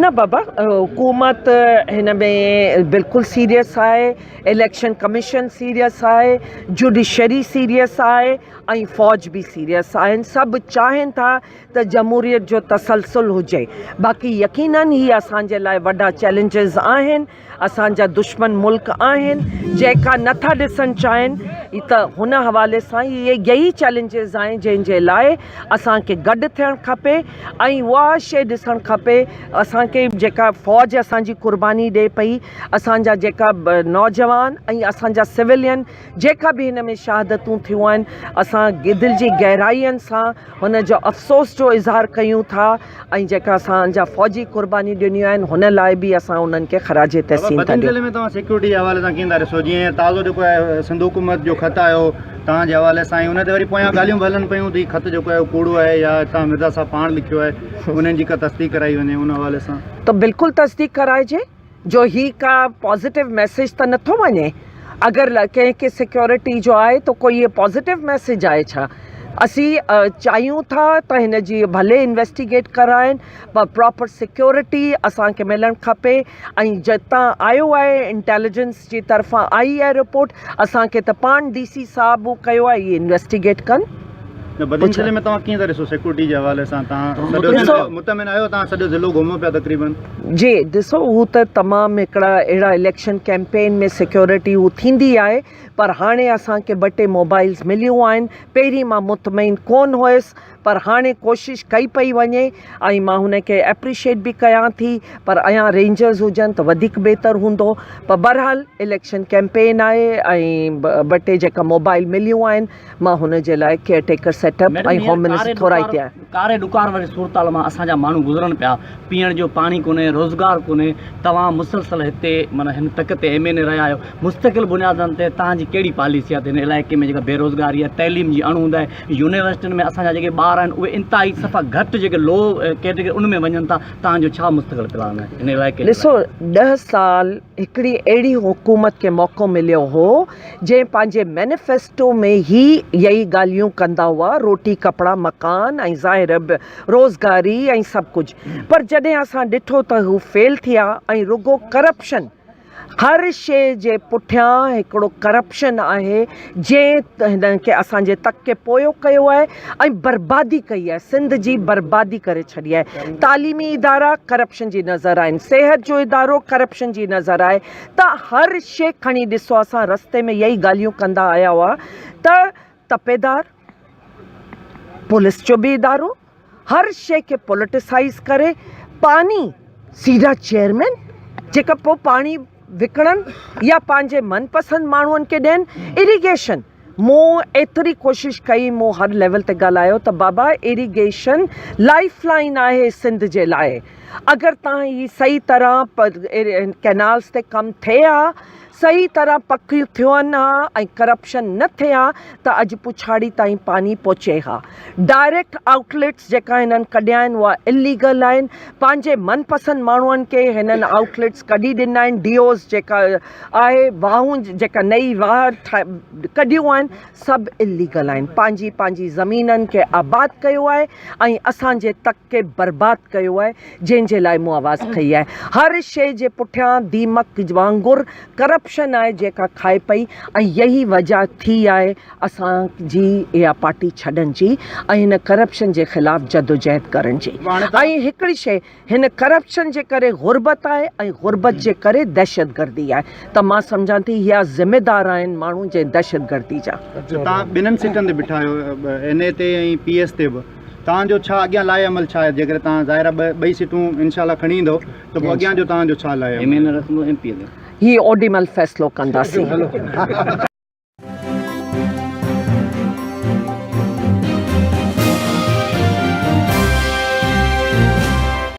نه بابا حڪومت هن ۾ بلڪل سيريس آهي اليڪشن ڪميشن سيريس آهي جڊيشري سيريس آهي ۽ فوج به سيريس آهن سڀ چاهين ٿا ته جمهوريت جو تسلسل هجي باقي يقينن هي اسان جي لاء وڏا چئلينجز آهن اسان جا دشمن ملڪ آهن جيڪا نه ٿا ڏسڻ چاهين ته هن حوالي سان هي يهي چئلينجز آهن جنهن جي لاء اسان کي گڏ ٿيڻ کپي ۽ اها شي ڏسڻ کپي اسان کي جيڪا فوج اسان جي قرباني ڏي پئي اسان جا جيڪا نوجوان ۽ اسان جا سولين جيڪا به هن ۾ شهادتون ٿيون آهن اسان دل جي گهرائين سان هن جو افسوس جو اظهار ڪيون ٿا ۽ جيڪا اسان جا فوجي قربانيون ڏنيون آهن هن لاء به اسان انهن کي خراج تحسين ٿا ڏيون. ۾ توهان سيڪيورٽي جي حوالي سان ڪيئن ٿا ڏسو جيئن تازو جيڪو آهي سنڌ حڪومت جو خط آيو توهان جي حوالي سان ۽ ان تي وري پويان ڳالهيون به هلن پيون ته هي خط جيڪو آهي ڪوڙو آهي يا هتان مرزا صاحب پاڻ لکيو آهي انهن جي ڪا تصديق ڪرائي وڃي ان حوالي سان ته بلڪل تصديق ڪرائجي. جو هي ڪا پازيٽو ميسيج ته نٿو وڃي اگر ڪنهن کي سيڪيورٽي جو آهي ته ڪو هي پازيٽو ميسيج آهي ڇا اسين چاهيون ٿا ته هن جي ڀلي انويسٽيگيٽ ڪرائين پر پراپر سيڪيورٽي اسان کي ملڻ کپي ۽ جتان آيو آهي انٽيليجنس جي طرفان آئي آهي رپورٽ اسان کي ته پاڻ ڊي سي صاحب هو ڪيو آهي هي انويسٽيگيٽ ڪن جي ڏسو هو ته تمام هڪڙا اهڙا اليڪشن ڪيمپين ۾ سيڪيورٽي هو ٿيندي آهي پر هاڻي اسان کي ٻه ٽي موبائلز مليون آهن پهرين مان مطمئن ڪون هيس پر هاڻي ڪوشش ڪئي پئي وڃي ۽ مان هن کي اپريشيٽ به ڪيان ٿي پر ايان رينجرز هجن ته وڌيڪ بهتر هوندو پر بهرحال اليڪشن ڪيمپين آهي ۽ ٻه ٽي جيڪا موبائل مليون آهن مان هن جي لاء care taker set up ۽ home minister ٿورائتي آهيان. ڪاري ڏڪار واري صورتحال مان اسان جا ماڻهو گذرن پيا، پيئڻ جو پاڻي ڪونهي، روزگار ڪونهي، توهان مسلسل هتي معنيٰ هن تڪ تي ايم اين اي رهيا آهيو، مستقل بنيادن تي تهان جي ڪهڙي پاليسي آهي ته هن علائقي ۾ جيڪا بي روزگاري آهي، تعليم جي اڻ هوند آهي، يونيورسٽين ۾ اسان جا جيڪي ٻار آهن اهي انتهائي صفا گهٽ جيڪي لو ڪيٽيگري ان ۾ وڃن ٿا، تهان جو ڇا مستقل پلان آهي هن علائقي جي لاء؟ ڏسو ڏهه سال هڪڙي اهڙي حڪومت کي موقعو مليو هو. جنهن پنهنجي مينيفيسٽو ۾ هي يئي ڳالهيون ڪندا هئا، روٽي، ڪپڙا، مڪان ۽ ظاهر به روزگاري ۽ سڀ ڪجهه پر جڏهن اسان ڏٺو ته هو فيل ٿيا ۽ رڳو ڪرپشن هر شي جي پٺيان هڪڙو ڪرپشن آهي جنهن هن کي اسان جي تڪ کي پويو ڪيو آهي ۽ بربادي ڪئي آهي سنڌ جي بربادي ڪري ڇڏي آهي تعليمي ادارا ڪرپشن جي نظر آهن صحت جو ادارو ڪرپشن جي نظر آهي ته هر شي کڻي ڏسو اسان رستي ۾ اهي ئي ڳالهيون ڪندا آيا هئا ته تپيدار پوليس جو به ادارو هر شي کي پوليٽيسائيز ڪري پاني سيڙا چيئرمين جيڪا پوء پاڻي وڪڻن يا پنهنجي من پسند ماڻهن کي ڏين اريگيشن مون ايتري ڪوشش ڪئي، مون هر ليول تي ڳالهايو ته بابا ايريگيشن لائيف لائين آهي سنڌ جي لاء، اگر تان هي صحيح طرح ڪينالز تي ڪم ٿئي ها، صحيح طرح پڪ ٿين ها ۽ ڪرپشن نه ٿئي ها ته اڄ پڇاڙي تائين پاڻي پهچي ها. ڊائريڪٽ آئوٽ ليٽس جيڪا هنن ڪڍيا آهن اها اليگل آهن، پنهنجي من پسند ماڻهن کي هنن آئوٽ ليٽس ڪڍي ڏنا آهن، ڊي اوز جيڪا آهي واهون جيڪا نئي واهه ڪڍيون آهن سڀ اليگل آهن پنهنجي پنهنجي زمينن کي آباد ڪيو آهي ۽ اسان جي تڪ کي برباد ڪيو آهي جنهن جي لاء مون آواز کئي آهي هر شي جي پٺيان ديمڪ وانگر ڪرپشن آهي جيڪا کائي پئي ۽ يهي وجه ٿي آهي اسان جي اها پارٽي ڇڏن جي ۽ هن ڪرپشن جي خلاف جدوجهد ڪرن جي ۽ هڪڙي شي هن ڪرپشن جي ڪري غربت آهي ۽ غربت جي ڪري دهشتگردي آهي ته مان سمجهان ٿي اها ذميدار آهن ماڻهو جي دهشتگردي جا. توهان ٻنهن سيٽن تي بيٺا آهيو اين اي تي ۽ پي ايس تي به توهان جو ڇا اڳيان لائحه عمل ڇا آهي جيڪڏهن توهان ظاهر آهي ٻئي سيٽون انشاء الله کڻي ايندو ته پوء اڳيان جو توهان جو ڇا لائحه عمل ايم اين رکندو ايم پي اين هي اوڏي مهل فيصلو ڪنداسين.